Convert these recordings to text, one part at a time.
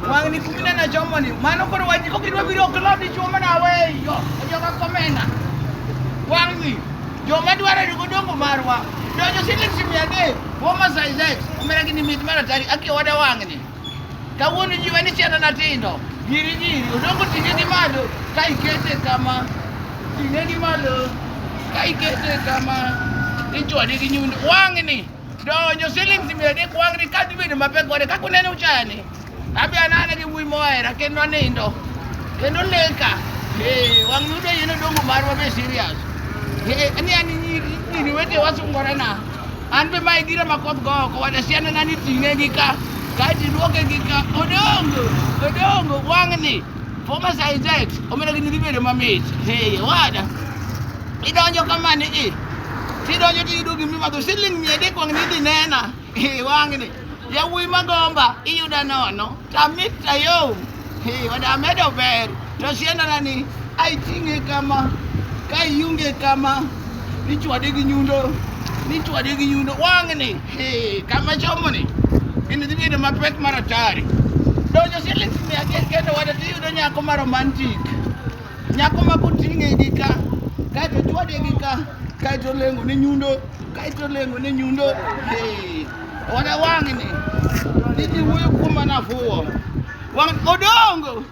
Wang'ni kumine na chomo ni. Mano koro wajni kok idwa biro ok lodi chuoma na weyo. Joka komena. Wang'ni. Joma dwaro yugo dongo marwa. Donjo siling simi ade. Woma size X. Umera gini mit mara tari. Aki wade wang'ni. Kawuono jiwa ni chena na tindo. Giri giri. Odongo tinge gi malo. Ka ikete kama. Tinge gi malo. Ka ikete kama. Ichwadi gi nyundo. Wang'ni. Donjo siling mia adek wang'ni ka dhi bedo mapek kode kaka uneno chani. Abi anana gi wuoyi mohera kendo anindo. Kendo leka. Eh, wang' yudo yeno dongo marwa be serious. Eh, ani ani nyiri nyiri wete wasungorena. An be mae gira ma koth go oko wada siana nani ting'e gi ka. Kae tiduoke gi ka. Odongo. Odongo wang'ni. Poma saizet omena gini dhi bedo mamit. Hey, wada. Idonjo kamani i. Tidonjo tiyudo gimi madho siling mia adek wang' nidhi nena. Hey, wang'ni. Yawuoyi magomba iyuda nono. Tamit tayom. Hey, wada amedo ber. To siendana ni ai ting'e kama. Ka iunge kama. Nichwade gi nyundo. Nichwade gi nyundo. Wang'ni. Eh, kama chomo ni. Ini dhibi ni mapek mara tari. Donjo siling mia achiel kendo wada to iyudo nyako ma romantic. Nyako ma koting'e gi ka, kaeto chwade gi ka, kaeto lengo ne nyundo, kaeto lengo ne nyundo. Eh, Wada wang'ni. Niji wuoyo kuom manafuwo. Wang' odongo.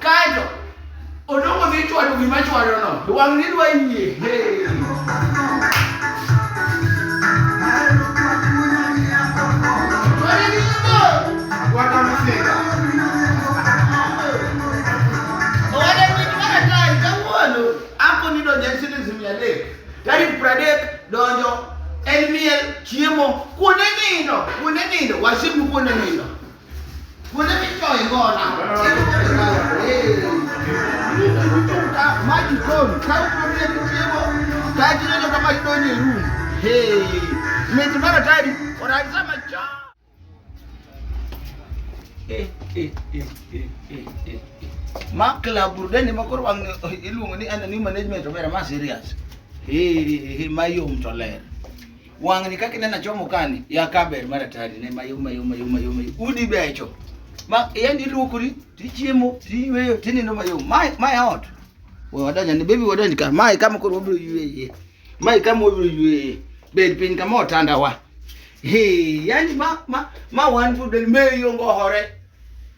Kaeto odongo dhi chwado gima chwadono, wang'ni dwa yie. Tarik pradek donjo en miel chiemo kuonde nindo kuonde nindo wasimu kuonde nindo Makla burudani makoro wang iluongo ni anani management obera ma serious. Hii hii mayom to ler. Wang'ni kaka ineno achomo kani ya kaber mar atari ne mayom mayom mayom mayom mayom. udi becho ma yani iluokori tichiemo tiyweyo tinindo mayom mae mae ot we wadonja ni bebi wadonj ka mae kama koro wabiro yweye mae kama wabiro yweye bed piny kama otanda wa Hey, yani ma ma ma wan fu del meyo ngohore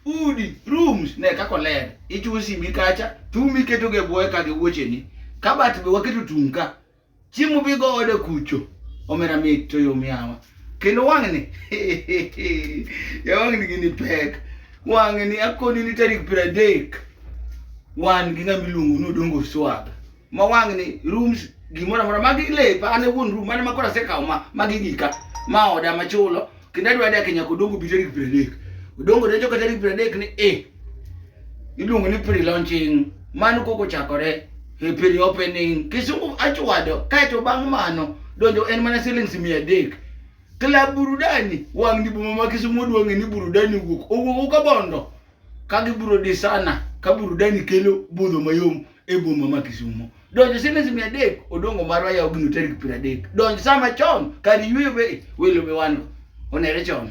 udi rooms ne kako ler ichusi mikacha tumi keto ge boye ka ge wuocheni kabat be waketo tunka Chiemo bi go ode kucho. Omera mit to yo miawa. Kendo wang'ni. Ya wang'ni gini pek. Wang'ni akoni ni tarik piero adek. Wan gi ng'ama iluongo ni Odongo Swag. Ma wang'ni rooms gimoro amora magi lepa an e wuon room mane makoro asekawo ma magi gika. Ma oda machulo. kendo adwa dake nyaka odongo bi tarik piero adek odongo donjo ka tarik piero adek ni e iluongo ni pre launching mano koko chakore e pre opening kisungu achwado kaeto bang' mano donjo en mana silings mia adek kla burudani wang' ni boma ma kisumu odwang'e ni burudani owuok owuok ukabondo ka gibiro disana ka burudani kelo budho mayom e boma ma Kisumo. Donjo siling mia adek odongo marwa yaw gino tarik piero adek. Donj sama chon kar yweyo be welo be wan onere chon.